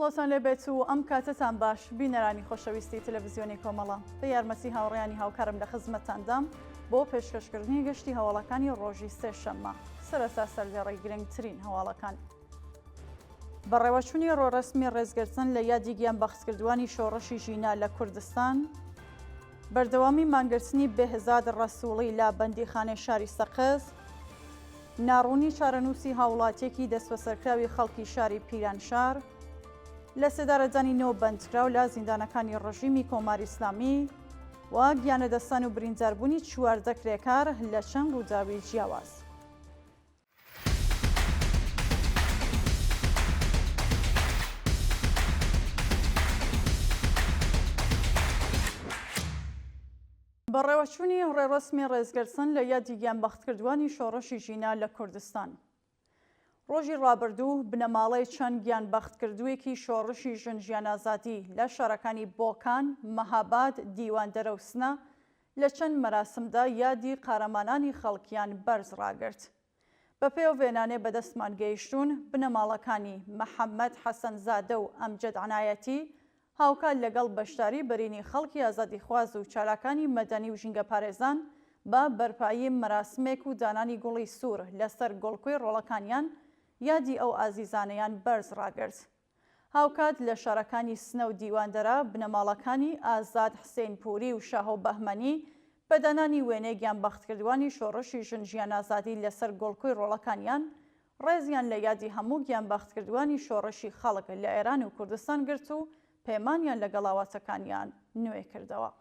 سڵاوتان لێبێت و ئەم کاتتان باش بینەرانی خۆشەویستی تەلەڤزیۆنی کۆمەڵە بە یارمەتی هاوڕیانی هاوکارم لە خزمەتاندام بۆ پێشکەشکردنی گەشتی هەواڵەکانی ڕۆژی سێشەممە سەرەتا سەرلێڕی گرنگترین هەواڵەکان بەڕێوەچوونی ڕۆڕەسمی ڕێزگرتن لە یادی گیانبەختکردوانی شۆڕشی ژینا لە کوردستان، بەردەوامی مانگرتنی بێهزاد ڕەسووڵی لە بەندیخانەی شاری سەقز، ناڕوونی چارەنووسی هاوڵاتیەکی دەستبەسەرکراوی خەڵکی شاری پیرانشار، لە سێدارەدانی نۆ بەندکراو لە زیندانەکانی ڕژیمی کۆماری ئیسلامی و گیانەدەستان و برینداربوونی چواردە کرێکار لە چەند ڕووداوی جیاواز. بەڕێوەچوونی ڕێڕەسمی ڕێزگرتن لە یادی گیانبەختکردووانی شۆڕشی ژینا لە کوردستان. ڕۆژی ڕابردوو بنەماڵەی چەند گیانبەختکردوویەکی شۆڕشی ژن ژیانازادی لە شارەکانی بۆکان، مەهاباد، دیواندەرە و سنە لە چەند مەراسمدا یادی قارەمانانی خەڵکیان بەرز ڕاگرت. بە پێو وێنانێ بە دەستمان گەیشتوون، بنەماڵەکانی، محەمەد حەسەن زادە و ئەمجەد عنایەتی، هاوکات لەگەڵ بەشداری بەرینی خەڵکی ئازادیخواز و چالاکانی مەدەنی و ژینگەپارێزان بە بەرپایی مەراسمێک و دانانی گوڵی سوور لەسەر گۆڵکوێ ڕۆڵەکانیان یادی ئەو ئازیزانەیان بەرز ڕاگرت. هاوکات لە شارەکانی سنە و دیواندەرە، بنەماڵەکانی، ئازاد حسین پوری و شاهۆ بەهمەنی، بە دانانی وێنەی گیانبەختکردوانی شۆڕشی ژن ژیان ئازادی لەسەر گۆڵکۆی ڕۆڵەکانیان، ڕێزیان لە یادی هەموو گیانبەختکردوانی شۆڕشی خەڵک لە ئێران و کوردستان گرت و پەیمانیان لەگەڵ ئاواتەکانیان نوێ کردەوە.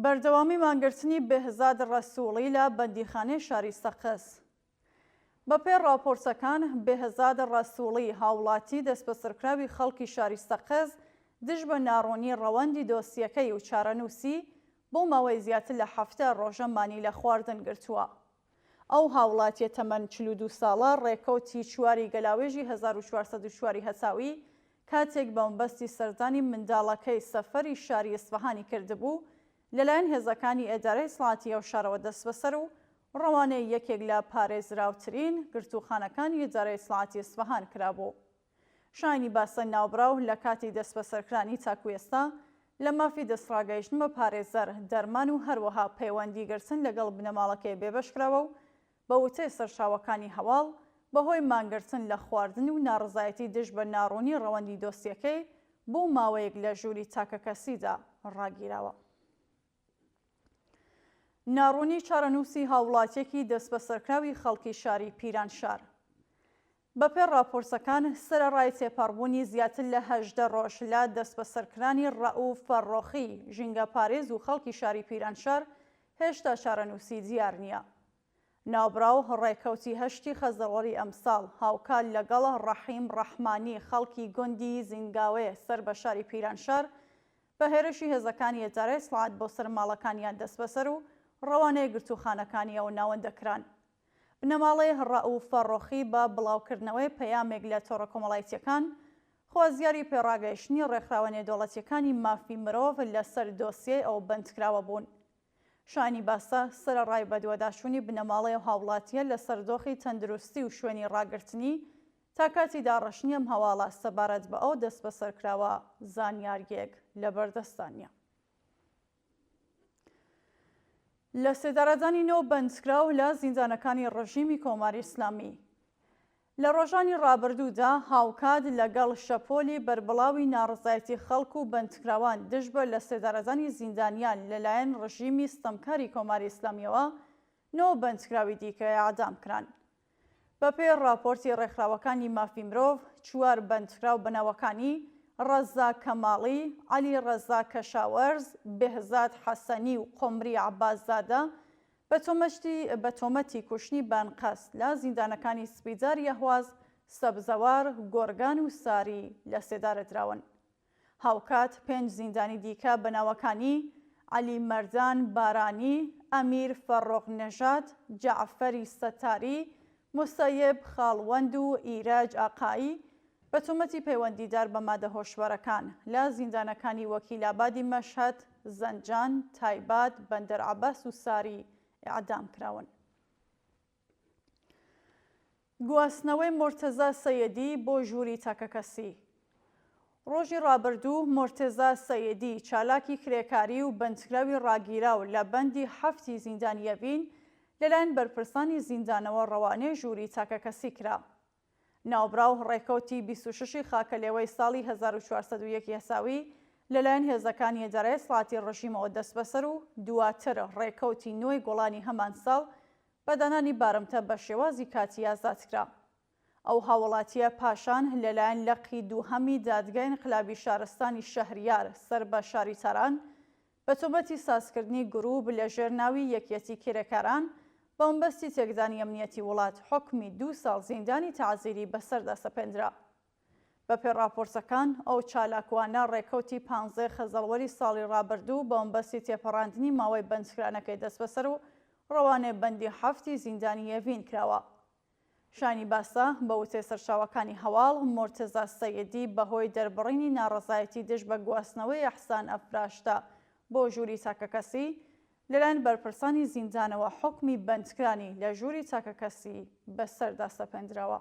بەردەوامی مانگرتنی بێهزاد ڕەسووڵی لە بەندیخانەی شاری سەقز. بەپێ ڕاپۆرتەکان، بێهزاد ڕەسووڵی، هاوڵاتی دەسبەسەرکراوی خەڵکی شاری سەقز، دژ بە ناڕوونی ڕەوەندی دۆسیەکەی و چارەنووسی، بۆ ماوەی زیاتر لە حەفتا ڕۆژە مانی لە خواردن گرتووە. ئەو هاوڵاتییە تەمەن چل و دوو ساڵە، ڕێکەوتی چواری گەلاوێژی هەزار و چوار سەد و چوار ی هەتاوی، کاتێک بە مەبەستی سەردانی منداڵەکەی سەفەری شاری ئیسفەهانی کردبوو، لەلایەن هێزەکانی ئێدارەی ئیتڵاعاتی ئەو شارەوە دەسبەسەر و ڕەوانەی یەکێک لە پارێزراوترین گرتووخانەکانی ئیدارەی ئیتلاعاتی ئیسفەهان کرابوو. شایەنی باسە ناوبراو لە کاتی دەستبەسەرکرانی تاکوو ئێستا لە مافی دەستڕاگەیشتن بە پارێزەر، دەرمان و هەروەها پەیوەندی گرتن لەگەڵ بنەماڵەکەی بێبەش کراوە و بە وتەی سەرچاوەکانی هەواڵ بەهۆی مانگرتن لە خواردن و ناڕەزایەتی دژ بە ناڕوونی ڕەوەندی دۆسیەکەی بۆ ماوەیەک لە ژووری تاکەکەسیدا ڕاگیراوە. ناڕوونی چارەنووسی هاووڵاتییەکی دەستبەسەرکراوی خەڵکی شاری پیرانشار. بەپێ ڕاپۆرسەکان، سەرەڕای تێپەڕبوونی زیاتر لە هەژدە ڕۆژ لە دەستبەسەرکرانی ڕەئووف فەرڕۆخی، ژینگەپارێز و خەڵکی شاری پیرانشار، هێشتا چارەنووسی دیار نییە. ناوبراو ڕێکەوتی هەشتی خەزەڵی ئەمساڵ، هاوکات لەگەڵ ڕەحیم ڕەحمانی خەڵکی گوندی زینگاوێ سەر بە شاری پیرانشار، بە هێرشی هێزەکانی ئیدارەی سڵاعەت بۆ سەر ماڵەکانیان دەستبەسەر و ڕەوانەی گرتووخانەکانی ئەو ناوەندە کران. بنەماڵەی ڕەئووف فەڕۆخی بە بڵاوکردنەوەی پەیامێک لە تۆڕە کۆمەڵایتییەکان، خوازیاری پێڕاگەیشتنی ڕێکخراوە نێودەوڵەتییەکانی مافی مرۆڤ لەسەر دۆسیەی ئەو بەندکراوە بوون. شایانی باسە، سەرەڕای بەدواداچوونی بنەماڵەی ئەو هاوڵاتییە لەسەر دۆخی تەندروستی و شوێنی ڕاگرتنی، تا کاتی داڕشتنی ئەم هەواڵە سەبارەت بە ئەو دەستبەسەرکراوە زانیارییەک لەبەردەستدا نییە. لەسێدارەدانی نۆ بەندکراو لە زیندانەکانی ڕژیمی کۆماری ئیسلامی، لە ڕۆژانی ڕابردوودا هاوکات لەگەڵ شەپۆلی بەربڵاوی ناڕەزایەتی خەڵک و بەندکراوان دژ بە لەسێدارەدانی زیندانیان لەلایەن ڕژیمی ستەمکاری کۆماری ئیسلامیەوە، نۆ بەندکراوی دیکە ئێعدام کران. بەپێی ڕاپۆرتی ڕێکخراوەکانی مافی مرۆڤ، چوار بەندکراو بە ناوەکانی، ڕەزا کەماڵی، عەلی ڕەزا کەشاوەرز، بێهزاد حەسەنی و قۆمری عەباس زادە، بەتۆمەشتی بەتۆمەتی کوشنی بەئەنقەست لە زیندانەکانی سپیدار یەهواز، سەبزەوار، گۆرگان و ساری لەسێدارەدراون. هاوکات پێنج زیندانی دیکە بەناوەکانی، عەلی مەردان بارانی، ئەمیر فەڕۆغ نەژاد، جەعفەری سەتاری، موسەیب خاڵوەند و ئیرەج ئاقایی بە تۆمەتی پەیوەندیدار بە مادە هۆشبەرەکان، لە زیندانەکانی وەکیلابادی مەشهەد، زەنجان، تایباد، بەندەر عەباس و ساری ئێعدام کراون. گواستنەوەی مۆرتەزا سەیەدی بۆ ژووری تاکەکەسی ڕۆژی ڕابردوو مۆرتێزا سەیدی چالاکی کرێکاری و بەندکراوی ڕاگیراو لە بەندی حەفتی زیندانیەڤین لەلایەن بەرپرسانی زیندانەوە ڕەوانەی ژووری تاکەکەسی کرا. ناوبراو ڕێکەوتی بیست و شەشی خاکەلێوەی ساڵی هەزار و چوار سەد و یەک یاساوی لەلایەن هێزەکانی ئیدارەی ئیسلاحاتی ڕژیمەوە دەستبەسەر و دواتر ڕێکەوتی نۆی گۆڵانی هەمان ساڵ بە دانانی بارمتە بە شێوازی کاتی ئازادکرا. ئەو هاوڵاتییە پاشان لەلایەن لقی دووهەمی دادگای ئینقلابی شارستانی شەهریار سەر بە شاری تاران بە تۆمەتی سازکردنی گرووپ لە ژێر ناوی یەکیەتی کرێکاران بە مەبەستی تێکدانی ئەمنیەتی وڵات حوکمی دوو ساڵ زیندانی تەعزیری بەسەردا سەپێندرا. بە پێی ڕاپۆرتەکان ئەو چالاکوانە ڕێکەوتی پانزەی خەزەڵوەری ساڵی ڕابردوو بە مەبەستی تێپەڕاندنی ماوەی بەندکرانەکەی دەستبەسەر و ڕەوانەی بەندی حەفتی زیندانی یەڤین کراوە. شایانی باسە، بە وتەی سەرچاوەکانی هەواڵ، مورتزا سەیدی بەهۆی دەربڕینی ناڕەزایەتی دژ بە گواستنەوەی ئێحسان ئەفراشتە بۆ ژووری تاکەکەسی، لەلایەن بەرپرسانی زیندانەوە حوکمی بەندکرانی لە ژووری تاکەکەسی بەسەردا سەپێندراوە.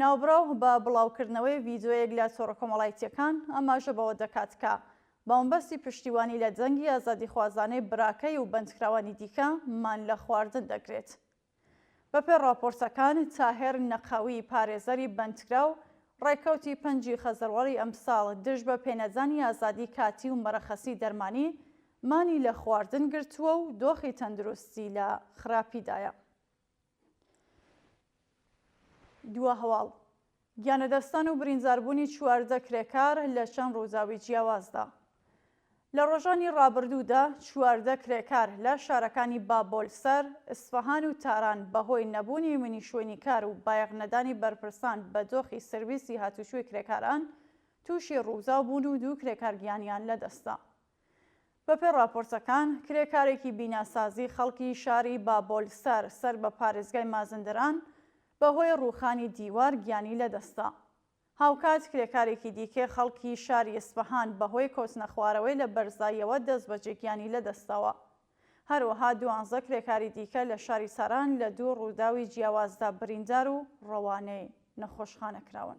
ناوبراو بە بڵاوکردنەوەی ڤیدیۆیەک لە تۆڕە کۆمەڵایتییەکان ئاماژە بەوە دەکات کە بە مەبەستی پشتیوانی لە دەنگی ئازادیخوازانەی براکەی و بەندکراوانی دیکە مان لە خواردن دەگرێت. بەپێ ڕاپۆرتەکان، تاهێر نەقەوی، پارێزەری بەندکراو، ڕێکەوتی پەنجی خەزەڵوەڕی ئەمساڵ دژ بە پێنەدانی ئازادی کاتی و مەرەخەسی دەرمانی مانی لە خواردن گرتووە و دۆخی تەندروستی لە خراپیدایە. دووە هەواڵ گیانەدەستان و برینزاربوونی چواردە کرێکار لە چەند ڕووداوی جیاوازدا. لە ڕۆژانی ڕابردوودا چواردە کرێکار لە شارەکانی بابۆلسەر، ئیسفەهان و تاران بەهۆی نەبوونی منی شوێنی کار و بایەخ نەدانی بەرپرسان بە دۆخی سرویسی هاتوچۆی کرێکاران تووشی ڕووداو بوون و دوو کرێکار گیانیان لەدەستدا. بەپێ ڕاپۆرتەکان، کرێکارێکی بیناسازی خەڵکی شاری بابۆلسەر سەر بە پارێزگای مازندران بە هۆی ڕووخانی دیوار گیانی لە دەست دا. هاوکات کرێکارێکی دیکەی خەڵکی شاری ئیسفەهان بە هۆی کەوتنە خوارەوەی لە بەرزاییەوە دەستبەجێ گیانی لە دەست داوە. هەروەها دوانزە کرێکاری دیکە لە شاری تاران لە دوو ڕووداوی جیاوازدا بریندار و ڕەوانەی نەخۆشخانە کراون.